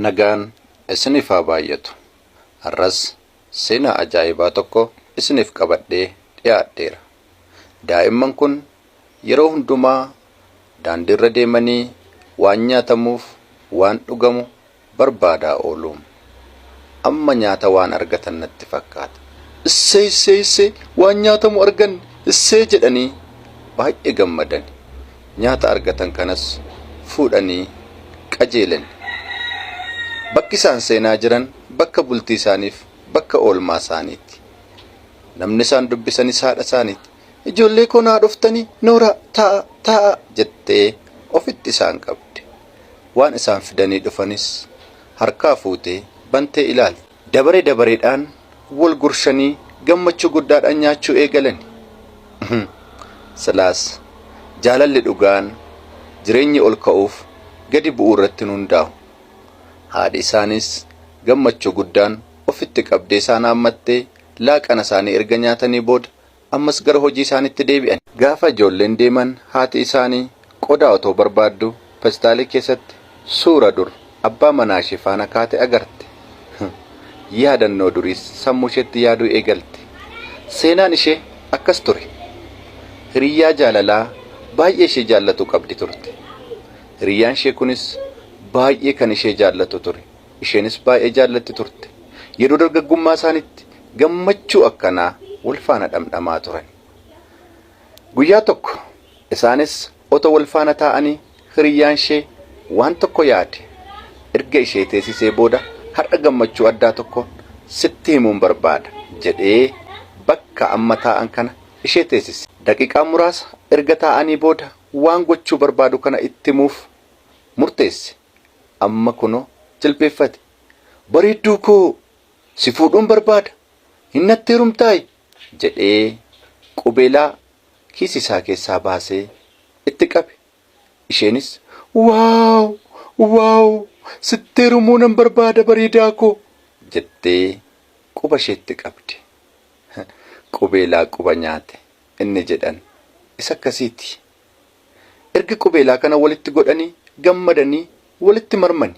Nagaan isiniif haa baay'atu. Har'as seenaa ajaa'ibaa tokko isiniif qabadhee dhiyaadheera. Daa'imman kun yeroo hundumaa daandiirra deemanii waan nyaatamuuf waan dhugamu barbaadaa oolu. Amma nyaata waan argatan natti fakkaata. Issee issee issee waan nyaatamu arganne issee jedhanii baay'ee gammadani. Nyaata argatan kanas fuudhanii qajeelan. Bakki isaan seenaa jiran bakka bultii isaaniif bakka oolmaa isaaniiti. Namni isaan dubbisanis haadha isaaniiti. Ijoollee koo naa dhuftanii nooraa taa'a taa'a jettee ofitti isaan qabde. Waan isaan fidanii dhufanis harkaa fuutee bantee ilaalti. Dabare dabareedhaan wal gurshanii gammachuu guddaadhaan nyaachuu eegalani. Uhum. Silaas jaalalli dhugaan jireenyi ol ka'uuf gadi bu'uu irratti hin hundaa'u. Haadhi isaaniis gammachuu guddaan ofitti qabdee isaan haammattee laaqana isaanii erga nyaatanii booda ammas gara hojii isaaniitti deebi'an. Gaafa ijoolleen deeman haati isaanii qodaa otoo barbaadduu pestaalii keessatti suura dur abbaa manaa ishee faana kaate agarte. Yaadannoo duriis sammuu isheetti yaaduu eegalte. Seenaan ishee akkas ture. Hiriyyaa jaalalaa baay'ee ishee jaallatu qabdi turte. Hiriyyaan ishee kunis baay'ee kan ishee jaallatu ture. Isheenis baay'ee jaallatti turte. Yeroo dargaggummaa isaaniitti gammachuu akkanaa wal faana dhamdhamaa turan. Guyyaa tokko isaanis otoo wal faana taa'anii hiriyyaan ishee waan tokko yaade erga ishee teessisee booda har'a gammachuu addaa tokko sitti himuun barbaada jedhee bakka amma taa'an kana ishee teessise. Daqiiqaa muraasa erga taa'anii booda waan gochuu barbaadu kana itti himuuf murteesse. Amma kunoo jilbeeffate. Bareedduu koo! Si fuudhuun barbaada, hin natti heerumtaayi? jedhee qubeelaa kiisii isaa keessaa baasee itti qabe. Isheenis Wow! Wow! Sitti heerumuu nan barbaada bareedaa koo! jettee quba isheetti qabde. Qubeelaa quba nyaate inni jedhan isa akkasiiti. Erga qubeelaa kana walitti godhanii gammadanii walitti marmani.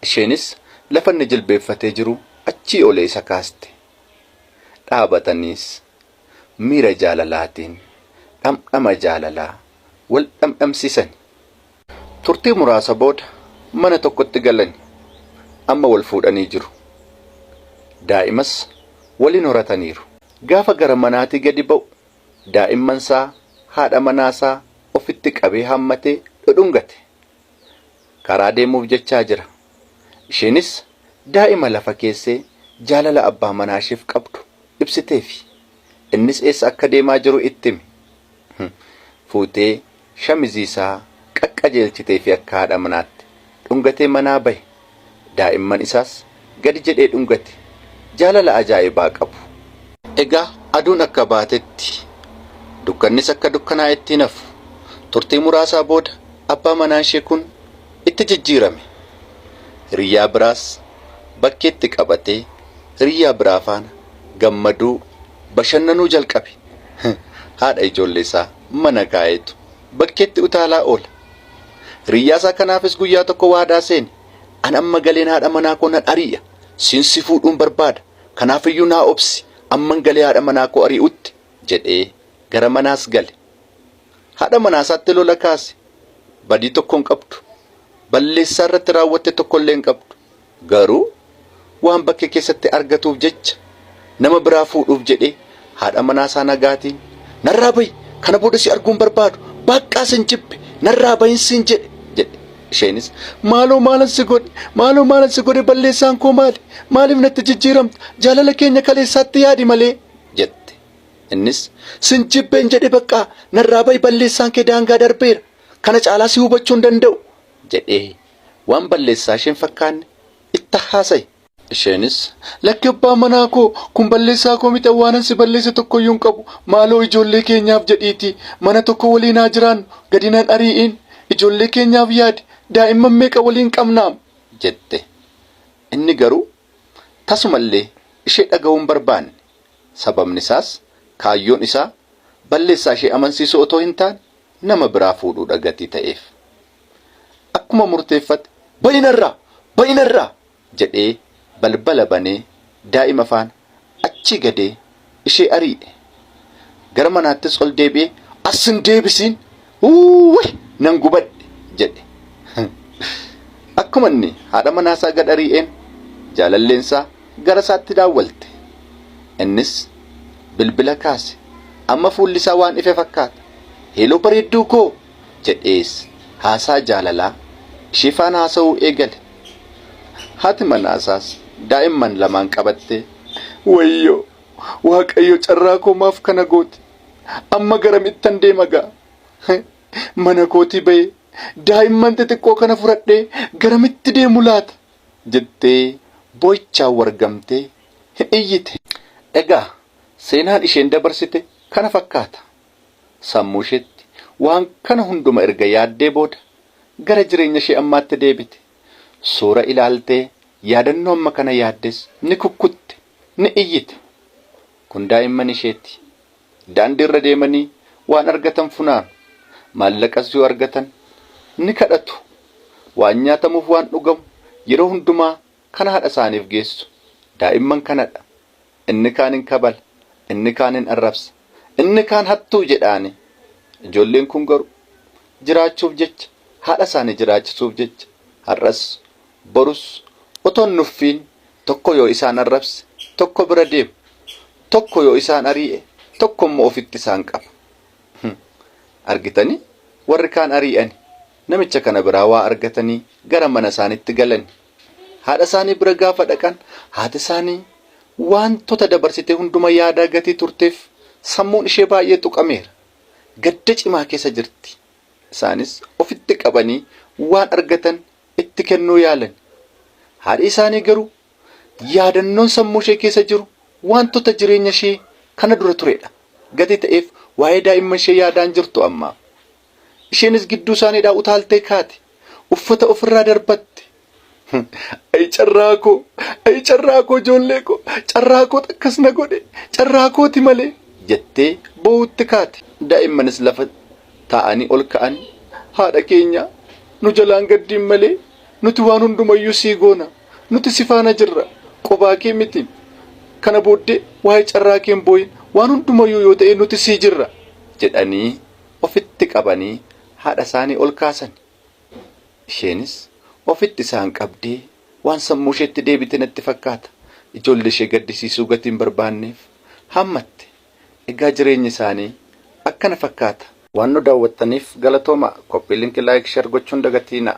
Isheenis lafa inni jilbeeffatee jiru achii olee isa kaaste. Dhaabataniis miira jaalalaatiin dhamdhama jaalalaa wal dhamdhamsiisani. Turtii muraasa booda mana tokkotti galani. Amma wal fuudhanii jiru. Daa'imas waliin horataniiru. Gaafa gara manaatii gadi ba'u daa'immansaa, haadha manaasaa ofitti qabee haammatee dhudhungate. Karaa deemuuf jechaa jira. Isheenis daa'ima lafa keessee jaalala abbaa manaasheef qabdu ibsiteefi. Innis eessa akka deemaa jiru itti hime. Fuutee Shamizii isaa qaqqajeelchiteefii akka haadha manaatti dhungatee manaa bahe. Daa'imman isaas gadi jedhee dhungate. Jaalala ajaa'ibaa qabu. Egaa aduun akka baatetti, dukkannis akka dukkanaa'etti hin hafu. Turtii muraasaa booda abbaa manaa ishee kun itti jijjiirame. Hiriyyaa biraas bakkeetti qabatee hiriyyaa biraa faana gammaduu, bashannanuu jalqabe. Haadha ijoollee isaa. mana kaa'etu bakkeetti utaalaa oola. Hiriyyaasaa kanaafis guyyaa tokko waadaa seene, An amma galeen haadha manaa koo nan ari'a, siin si fuudhuun barbaada, kanaafiyyuu naa obsi, amman galee haadha manaa koo ari'utti jedhee gara manaas gale. Haadha manaasaatti lola kaase. Badii tokko hin qabdu. Balleessaa irratti raawwatte tokkollee hin qabdu. Garuu waan bakkee keessatti argatuuf jecha nama biraa fuudhuuf jedhee haadha manaasaa nagaatiin narraa bahi kana booda si arguu hin barbaadu baqqaa sin jibbe narraa bahin siin jedhe jedhe isheenis maaloo maalan si godhe maaloo maalan si godhe balleessaan koo maali maaliif natti jijjiiramta jaalala keenya kaleessaatti yaadi malee jette innis sin jibbeen jedhe baqqaa narraa bahi balleessaan kee daangaa darbeera kana caalaa si hubachuu hin danda'u jedhee Waan balleessaa ishee hin fakkaanne itti haasa'i. Isheenis, Lakki abbaa manaa koo, kun balleessaa koo miti, waanan si balleesse tokko iyyuu hin qabu. Maaloo ijoollee keenyaaf jedhiitii mana tokko waliin haa jiraannu, gadi nan ari'iin. Ijoollee keenyaaf yaadi, daa'imman meeqa waliin qabnaam? jette. Inni garuu tasuma illee ishee dhaga'uu hin barbaanne. Sababni isaas kaayyoon isaa balleessaa ishee amansiisuu otoo hin taane nama biraa fuudhuu dha gatii ta'eef. Akkuma murteeffate ba'i narraa! Ba'i narraa! jedhee balbala banee daa'ima faana achii gadee ishee arii'e. Gara manaattis ol deebi'ee as hin deebisiin! Uuwwii! Nan gubadhe! jedhe. Akkuma inni haadha manaasaa gad arii'een jaalalleensaa garasaatti daawwalte. Innis bilbila kaase. Amma fuullisaa waan ife fakkaata. Heeloo bareedduu koo! jedhees haasaa jaalalaa ishee faana haasa'uu eegale. Haati manaasaas daa'imman lamaan qabattee wayyoo waaqayyo carraa koo maaf kana gooti amma garamittan deema gaa mana kootii ba'ee daa'imman xixiqqoo kana fudhadhee garamitti deemu laata jettee boo'ichaan wargamtee iyyite. Egaa seenaan isheen dabarsite kana fakkaata. Sammuusheetti waan kana hunduma erga yaaddee booda gara jireenyashee ammaatti deebite. Suura ilaaltee yaadannoo amma kana yaaddes ni kukkutte, ni iyyite. Kun daa'imman isheeti. Daandiirra deemanii waan argatan funaanu. Maallaqas yoo argatan ni kadhatu. Waan nyaatamuuf waan dhugamu yeroo hundumaa kan haadhasaaniif geessu daa'imman kanadha. inni kaan hin kabala, inni kaan hin arrabsa, inni kaan hattuu jedhaani. Ijoolleen kun garuu jiraachuuf jecha, haadha isaanii jiraachisuuf jecha har'as borus otoo hin nuffiin tokko yoo isaan arrabse tokko bira deemu, tokko yoo isaan arii'e tokko immoo ofitti isaan qaba. Argitanii warri kaan arii'ani namicha kana biraa waa argatanii gara mana isaanitti galani. Haadha isaanii bira gaafa dhaqan haati isaanii waantota dabarsite hunduma yaadaa gatii turteef sammuun ishee baay'ee tuqameera. Gadda cimaa keessa jirti. Isaanis ofitti qabanii waan argatan itti kennuu yaalani. Haadhi isaanii garuu yaadannoon sammuu ishee keessa jiru waantota jireenya ishee kana dura turedha. Gatii ta'eef waa'ee daa'imman ishee yaadaan jirtu amma. Isheenis gidduu isaaniidhaa utaaltee kaate. Uffata ofirraa darbatte. Ayi carraa koo, ayi carraa koo ijoollee koo, carraa koo akkas na godhe, carraa kooti malee jettee boo'utti kaate. Daa'immanis lafa taa'anii ol ka'an. Haadha keenya nu jalaan gaddiin malee nuti waan hundumayyuu sii goona. Nuti si faana jirra. Qobaa kee miti. Kana booddee waa'ee carraa kee hin boo'in. Waan hundumayyuu yoo ta'e nuti sii jirra jedhanii ofitti qabanii haadha isaanii ol kaasan. Isheenis ofitti isaan qabdee waan sammuu isheetti deebite natti fakkaata. Ijoollee ishee gaddisiisuu gatii hin barbaanneef hammatte. Egaa jireenyi isaanii akkana fakkaata. Waan nu daawwattaniif galatoomaa. Copy link like share gochuun dagatiinaa.